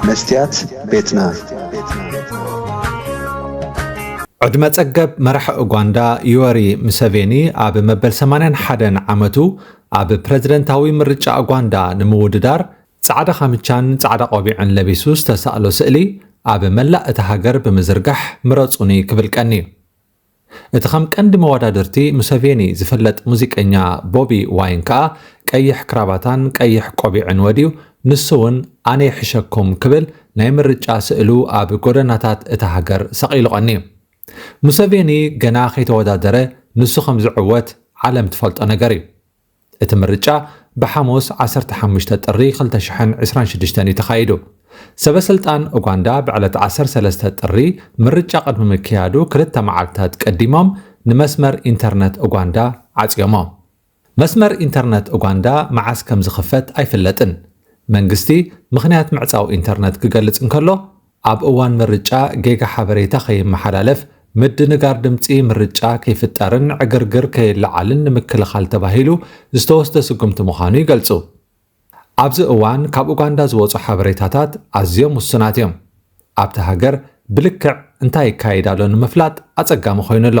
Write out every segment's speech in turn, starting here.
መስትያት ቤትና። ዕድመ ጸገብ መራሒ ኡጋንዳ ዩወሪ ሙሰቬኒ ኣብ መበል 81 ዓመቱ ኣብ ፕረዚደንታዊ ምርጫ ኡጋንዳ ንምውድዳር ጻዕዳ ካምቻን ጻዕዳ ቆቢዕን ለቢሱ ዝተሳእሎ ስእሊ ኣብ መላእ እታ ሃገር ብምዝርጋሕ ምረጹኒ ክብል ቀንዩ። እቲ ከም ቀንዲ መወዳድርቲ ሙሰቬኒ ዝፍለጥ ሙዚቀኛ ቦቢ ዋይን ከኣ ቀይሕ ክራባታን ቀይሕ ቆቢዕን ወድዩ ንሱ'ውን ኣነ ይሕሸኩም ክብል ናይ ምርጫ ስእሉ ኣብ ጎደናታት እታ ሃገር ሰቒሉ ቀንዩ። ሙሰቬኒ ገና ከይተወዳደረ ንሱ ከም ዝዕወት ዓለም ትፈልጦ ነገር'ዩ። እቲ ምርጫ ብሓሙስ ዓሰርተ ሓሙሽተ ጥሪ ክልተ ሽሕን ዕስራን ሽዱሽተን እዩ ተኻይዱ። ሰበስልጣን ኡጋንዳ ብዕለት ዓሰርተ ሰለስተ ጥሪ ምርጫ ቅድሚ ምክያዱ ክልተ መዓልትታት ቀዲሞም ንመስመር ኢንተርነት ኡጋንዳ ዓጽዮሞ። መስመር ኢንተርነት ኡጋንዳ መዓስ ከምዝኽፈት ኣይፍለጥን። መንግስቲ ምኽንያት ምዕጻው ኢንተርነት ክገልጽ እንከሎ፣ ኣብ እዋን ምርጫ ጌጋ ሓበሬታ ከይመሓላለፍ፣ ምድንጋር ድምጺ ምርጫ ከይፍጠርን ዕግርግር ከይለዓልን ንምክልኻል ተባሂሉ ዝተወስደ ስጉምቲ ምዃኑ ይገልጹ። ኣብዚ እዋን ካብ ኡጋንዳ ዝወጹ ሓበሬታታት ኣዝዮም ውሱናት እዮም። ኣብታ ሃገር ብልክዕ እንታይ ይካየድ ኣሎ ንምፍላጥ ኣጸጋሚ ኮይኑ ኣሎ።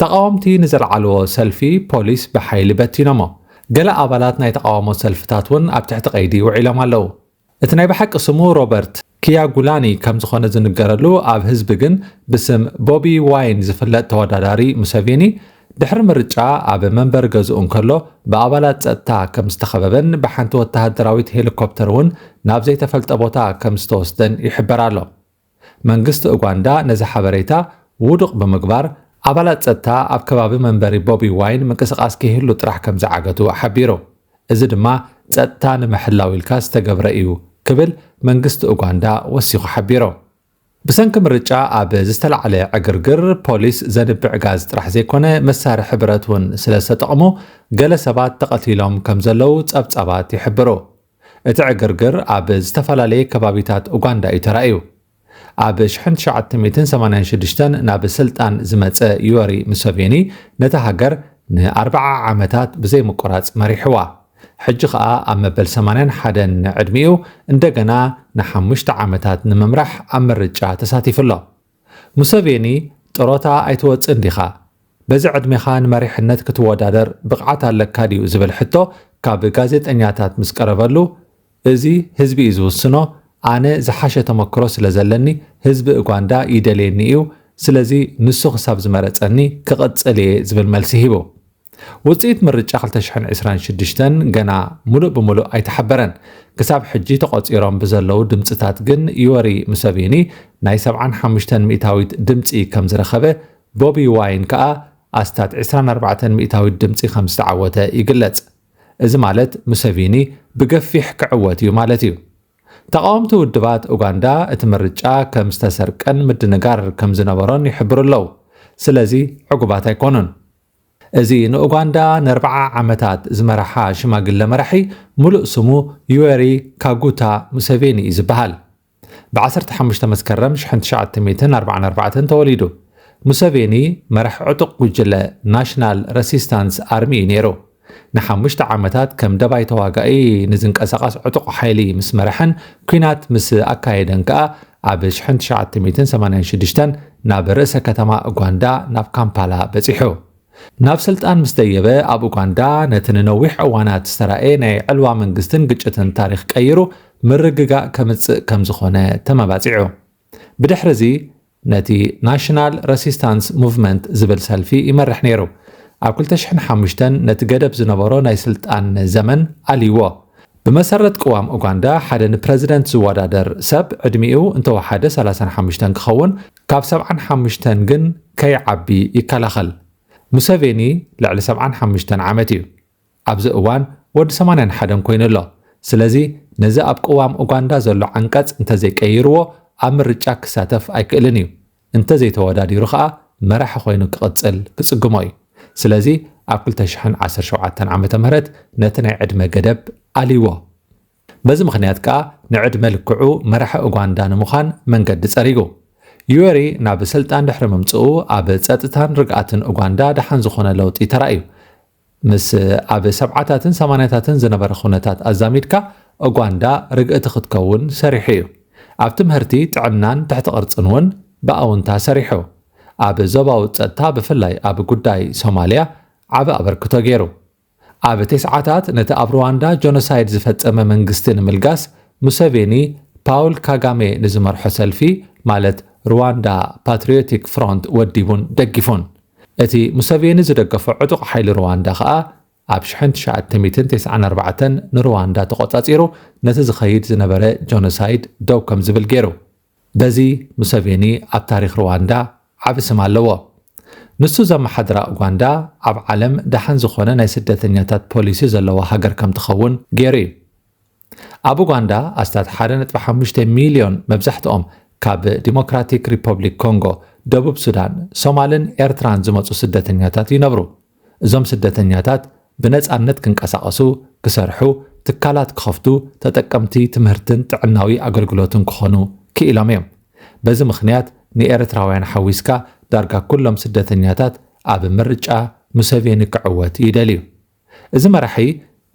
ተቓወምቲ ንዘልዓልዎ ሰልፊ ፖሊስ ብሓይሊ በቲኖሞ። ገለ ኣባላት ናይ ተቓውሞ ሰልፍታት እውን ኣብ ትሕቲ ቀይዲ ውዒሎም ኣለዉ። እቲ ናይ ብሓቂ ስሙ ሮበርት ክያጉላኒ ከም ዝዀነ ዝንገረሉ ኣብ ህዝቢ ግን ብስም ቦቢ ዋይን ዝፍለጥ ተወዳዳሪ ሙሰቬኒ ድሕሪ ምርጫ ኣብ መንበሪ ገዝኡ እንከሎ ብኣባላት ጸጥታ ከም ዝተኸበበን ብሓንቲ ወተሃደራዊት ሄሊኮፕተር እውን ናብ ዘይተፈልጠ ቦታ ከም ዝተወስደን ይሕበር ኣሎ። መንግስቲ ኡጋንዳ ነዚ ሓበሬታ ውዱቕ ብምግባር፣ ኣባላት ጸጥታ ኣብ ከባቢ መንበሪ ቦቢ ዋይን ምንቅስቓስ ከይህሉ ጥራሕ ከም ዝዓገቱ ሓቢሩ። እዚ ድማ ጸጥታ ንምሕላው ኢልካ ዝተገብረ እዩ ክብል መንግስቲ ኡጋንዳ ወሲኹ ሓቢሩ። ብሰንኪ ምርጫ ኣብ ዝተላዕለ ዕግርግር፣ ፖሊስ ዘንብዕ ጋዝ ጥራሕ ዘይኮነ መሳርሒ ብረት እውን ስለ ዝተጠቕሙ ገለ ሰባት ተቐቲሎም ከም ዘለዉ ጸብጻባት ይሕብሩ። እቲ ዕግርግር ኣብ ዝተፈላለየ ከባቢታት ኡጋንዳ እዩ ተራእዩ። ኣብ ሽሕን ትሽዓተ ሚእትን ሰማንያን ሽዱሽተን ናብ ስልጣን ዝመጸ ዩወሪ ሙሰቬኒ ነታ ሃገር ንኣርብዓ ዓመታት ብዘይምቁራጽ መሪሕዋ። ሕጂ ከኣ ኣብ መበል ሰማንያን ሓደን ዕድሚኡ እንደገና ንሓሙሽተ ዓመታት ንምምራሕ ኣብ ምርጫ ተሳቲፉ ኣሎ። ሙሰቬኒ ጥሮታ ኣይትወጽእን ዲኻ? በዚ ዕድሜኻ ንመሪሕነት ክትወዳደር ብቕዓት ኣለካ ድዩ ዝብል ሕቶ ካብ ጋዜጠኛታት ምስ ቀረበሉ፣ እዚ ህዝቢ እዩ ዝውስኖ፣ ኣነ ዝሓሸ ተመክሮ ስለዘለኒ ህዝቢ እጓንዳ ይደልየኒ እዩ፣ ስለዚ ንሱ ክሳብ ዝመረጸኒ ክቕጽል እየ ዝብል መልሲ ሂቡ። ውጽኢት ምርጫ ክልተ ሽሕን ዕስራን ሽዱሽተን ገና ሙሉእ ብሙሉእ ኣይተሓበረን። ክሳብ ሕጂ ተቖጺሮም ብዘለዉ ድምጽታት ግን ዩወሪ ሙሰቪኒ ናይ ሰብዓን ሓሙሽተን ሚእታዊት ድምጺ ከም ዝረኸበ፣ ቦቢ ዋይን ከኣ ኣስታት ዕስራን ኣርባዕተን ሚእታዊት ድምጺ ከም ዝተዓወተ ይግለጽ። እዚ ማለት ሙሰቪኒ ብገፊሕ ክዕወት እዩ ማለት እዩ። ተቓወምቲ ውድባት ኡጋንዳ እቲ ምርጫ ከም ዝተሰርቀን ምድንጋር ከም ዝነበሮን ይሕብሩ ኣለዉ። ስለዚ ዕጉባት ኣይኮኑን። እዚ ንኡጋንዳ ንኣርብዓ ዓመታት ዝመረሓ ሽማግለ መራሒ ምሉእ ስሙ ዩወሪ ካጉታ ሙሰቬኒ እዩ ዝበሃል። ብ ዓሰርተ ሓሙሽተ መስከረም ሽሕን ትሽዓተ ሚእትን ኣርብዓን ኣርባዕተን ተወሊዱ። ሙሰቬኒ መራሒ ዕጡቕ ጉጅለ ናሽናል ረሲስታንስ ኣርሚ እዩ ነይሩ። ንሓሙሽተ ዓመታት ከም ደባይ ተዋጋኢ ንዝንቀሳቐስ ዕጡቕ ሓይሊ ምስ መረሐን ኲናት ምስ ኣካየደን ከኣ ኣብ ሽሕን ትሽዓተ ሚእትን ሰማንያን ሽዱሽተን ናብ ርእሰ ከተማ ኡጋንዳ ናብ ካምፓላ በጺሑ። ናብ ስልጣን ምስ ደየበ ኣብ ኡጋንዳ ነቲ ንነዊሕ እዋናት ዝተራእየ ናይ ዕልዋ መንግስትን ግጭትን ታሪኽ ቀይሩ ምርግጋእ ከምጽእ ከም ዝኾነ ተመባጺዑ። ብድሕሪ'ዚ ነቲ ናሽናል ረሲስታንስ ሙቭመንት ዝብል ሰልፊ ይመርሕ ነይሩ። ኣብ ክልተ ሽሕን ሓሙሽተን ነቲ ገደብ ዝነበሮ ናይ ስልጣን ዘመን ኣልይዎ። ብመሰረት ቅዋም ኡጋንዳ ሓደ ንፕረዚደንት ዝወዳደር ሰብ ዕድሚኡ እንተወሓደ ሰላሳን ሓሙሽተን ክኸውን ካብ ሰብዓን ሓሙሽተን ግን ከይዓቢ ይከላኸል። ሙሰቬኒ ልዕሊ ሰብዓን ሓሙሽተን ዓመት እዩ። ኣብዚ እዋን ወዲ ሰማንያን ሓደን ኮይኑ ኣሎ። ስለዚ ነዚ ኣብ ቅዋም ኡጋንዳ ዘሎ ዓንቀጽ እንተዘይቀይርዎ ኣብ ምርጫ ክሳተፍ ኣይክእልን እዩ። እንተዘይተወዳዲሩ ከኣ መራሒ ኮይኑ ክቕጽል ክጽግሞ እዩ። ስለዚ ኣብ ክልተ ሽሕን ዓሰርተ ሸውዓተን ዓመተ ምህረት ነቲ ናይ ዕድመ ገደብ ኣልይዎ። በዚ ምኽንያት ከኣ ንዕድመ ልክዑ መራሒ ኡጋንዳ ንምዃን መንገዲ ጸሪጉ። ዩዌሪ ናብ ስልጣን ድሕሪ ምምጽኡ ኣብ ጸጥታን ርግኣትን ኡጋንዳ ደሓን ዝኾነ ለውጢ ተራእዩ። ምስ ኣብ ሰብዓታትን ሰማንያታትን ዝነበረ ኩነታት ኣዛሚድካ ኡጋንዳ ርግእቲ ክትከውን ሰሪሑ እዩ። ኣብ ትምህርቲ፣ ጥዕናን ትሕቲ ቅርጽን እውን ብኣውንታ ሰሪሑ። ኣብ ዞባዊ ጸጥታ ብፍላይ ኣብ ጉዳይ ሶማልያ ዓቢ ኣበርክቶ ገይሩ። ኣብ ቴስዓታት ነቲ ኣብ ሩዋንዳ ጆኖሳይድ ዝፈጸመ መንግስቲ ንምልጋስ ሙሰቬኒ ፓውል ካጋሜ ንዝመርሖ ሰልፊ ማለት ሩዋንዳ ፓትሪዮቲክ ፍሮንት ወዲቡን ደጊፉን። እቲ ሙሰቬኒ ዝደገፎ ዕጡቕ ሓይሊ ሩዋንዳ ከኣ ኣብ ሽሕን ትሽዓተ ሚእትን ቴስዓን ኣርባዕተን ንሩዋንዳ ተቖጻጺሩ ነቲ ዝኸይድ ዝነበረ ጆኖሳይድ ደው ከም ዝብል ገይሩ። በዚ ሙሰቬኒ ኣብ ታሪኽ ሩዋንዳ ዓቢ ስም ኣለዎ። ንሱ ዘመሓድራ ኡጋንዳ ኣብ ዓለም ደሓን ዝኾነ ናይ ስደተኛታት ፖሊሲ ዘለዋ ሃገር ከም ትኸውን ገይሩ እዩ። ኣብ ኡጋንዳ ኣስታት ሓደ ነጥቢ ሓሙሽተ ሚልዮን መብዛሕትኦም ካብ ዲሞክራቲክ ሪፐብሊክ ኮንጎ፣ ደቡብ ሱዳን፣ ሶማልን ኤርትራን ዝመጹ ስደተኛታት ይነብሩ። እዞም ስደተኛታት ብነጻነት ክንቀሳቐሱ፣ ክሰርሑ፣ ትካላት ክኸፍቱ፣ ተጠቀምቲ ትምህርትን ጥዕናዊ ኣገልግሎትን ክኾኑ ክኢሎም እዮም። በዚ ምኽንያት ንኤርትራውያን ሓዊስካ ዳርጋ ኩሎም ስደተኛታት ኣብ ምርጫ ሙሰቬኒ ክዕወት ይደልዩ። እዚ መራሒ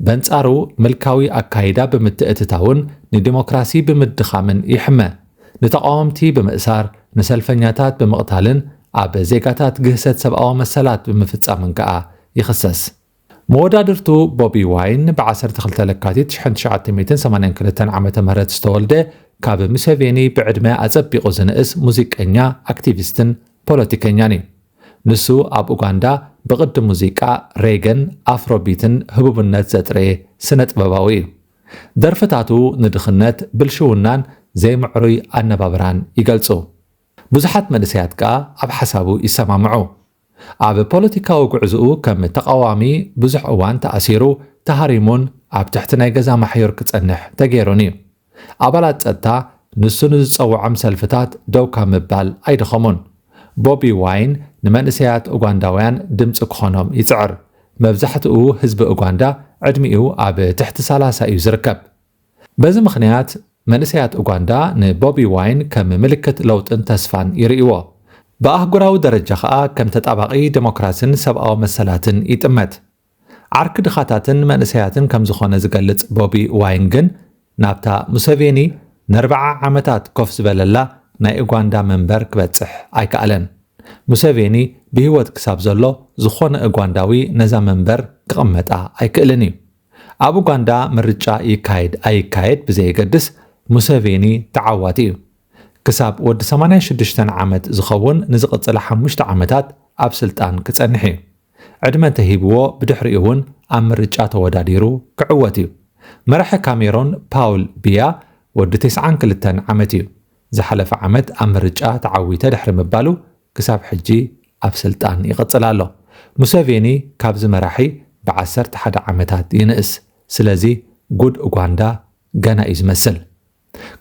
በንጻሩ ምልካዊ ኣካይዳ ብምትእትታውን ንዲሞክራሲ ብምድኻምን ይሕመ። ንተቓወምቲ ብምእሳር፣ ንሰልፈኛታት ብምቕታልን ኣብ ዜጋታት ግህሰት ሰብኣዊ መሰላት ብምፍጻምን ከኣ ይኽሰስ። መወዳድርቱ ቦቢ ዋይን ብ ዓሰርተ ክልተ ለካቲት ሽሕን ትሽዓተ ሚእትን ሰማንያን ክልተን ዓመተ ምህረት ዝተወልደ ካብ ሙሴቬኒ ብዕድመ ኣጸቢቑ ዝንእስ ሙዚቀኛ፣ ኣክቲቪስትን ፖለቲከኛን እዩ። ንሱ ኣብ ኡጋንዳ ብቕዲ ሙዚቃ ሬገን ኣፍሮቢትን ህቡብነት ዘጥረየ ስነጥበባዊ እዩ። ደርፍታቱ ንድኽነት፣ ብልሽውናን ዘይምዕሩይ ኣነባብራን ይገልጹ። ብዙሓት መንእሰያት ከኣ ኣብ ሓሳቡ ይሰማምዑ። ኣብ ፖለቲካዊ ጉዕዝኡ ከም ተቓዋሚ ብዙሕ እዋን ተኣሲሩ፣ ተሃሪሙን ኣብ ትሕቲ ናይ ገዛ ማሕዩር ክጸንሕ ተገይሩን እዩ። ኣባላት ጸጥታ ንሱ ንዝጸውዖም ሰልፍታት ደው ካብ ምባል ኣይደኸሙን። ቦቢ ዋይን ንመንእሰያት ኡጋንዳውያን ድምጺ ክኾኖም ይጽዕር። መብዛሕትኡ ህዝቢ ኡጋንዳ ዕድሚኡ ኣብ ትሕቲ ሰላሳ እዩ ዝርከብ። በዚ ምኽንያት መንእሰያት ኡጋንዳ ንቦቢ ዋይን ከም ምልክት ለውጥን ተስፋን ይርእይዎ። ብኣህጉራዊ ደረጃ ከኣ ከም ተጣባቒ ደሞክራሲን ሰብኣዊ መሰላትን ይጥመት። ዓርኪ ድኻታትን መንእሰያትን ከም ዝኾነ ዝገልጽ ቦቢ ዋይን ግን ናብታ ሙሰቬኒ ነርብዓ ዓመታት ኮፍ ዝበለላ ናይ ኡጋንዳ መንበር ክበጽሕ ኣይከኣለን። ሙሰቬኒ ብህይወት ክሳብ ዘሎ ዝኾነ ኡጋንዳዊ ነዛ መንበር ክቕመጣ ኣይክእልን እዩ። ኣብ ኡጋንዳ ምርጫ ይካየድ ኣይካየድ ብዘየገድስ ሙሰቬኒ ተዓዋቲ እዩ። ክሳብ ወዲ ሰማንያ ሽዱሽተ ዓመት ዝኸውን ንዝቕጽላ ሓሙሽተ ዓመታት ኣብ ስልጣን ክጸንሕ እዩ። ዕድመ እንተሂብዎ ብድሕሪኡ'ውን ኣብ ምርጫ ተወዳዲሩ ክዕወት እዩ። መራሒ ካሜሮን ፓውል ቢያ ወዲ ተስዓን ክልተን ዓመት እዩ። ዝሓለፈ ዓመት ኣብ ምርጫ ተዓዊተ ድሕሪ ምባሉ ክሳብ ሕጂ ኣብ ስልጣን ይቕጽል ኣሎ። ሙሰቬኒ ካብዚ መራሒ ብ ዓሰርተ ሓደ ዓመታት ይንእስ። ስለዚ ጉድ ኡጋንዳ ገና እዩ ዝመስል።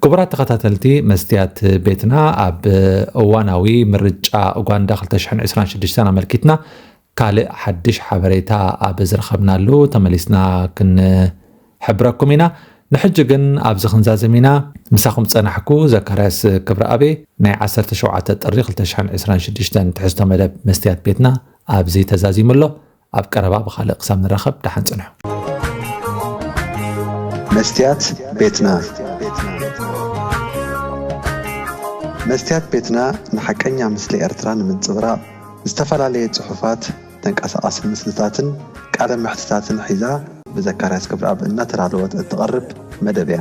ክቡራት ተኸታተልቲ መስትያት ቤትና ኣብ እዋናዊ ምርጫ ኡጋንዳ 2026 ኣመልኪትና ካልእ ሓድሽ ሓበሬታ ኣብ ዝረኸብናሉ ተመሊስና ክንሕብረኩም ኢና ንሕጂ ግን ኣብዚ ክንዛዘም ኢና ምሳኹም ጸናሕኩ ዘካርያስ ክብረኣቤ ናይ 17 ጥሪ 2026 ትሕዝቶ መደብ መስትያት ቤትና ኣብዚ ተዛዚሙ ኣሎ ኣብ ቀረባ ብኻልእ ክሳብ ንራኸብ ደሓን ጽንሑ። መስትያት ቤትና መስትያት ቤትና ንሓቀኛ ምስሊ ኤርትራ ንምንጽብራቕ ዝተፈላለየ ጽሑፋት፣ ተንቀሳቓሲ ምስልታትን ቃለ መሕትታትን ሒዛ ብዘካርያስ ገብረኣብ እናተዳለወት እትቐርብ መደብ እያ።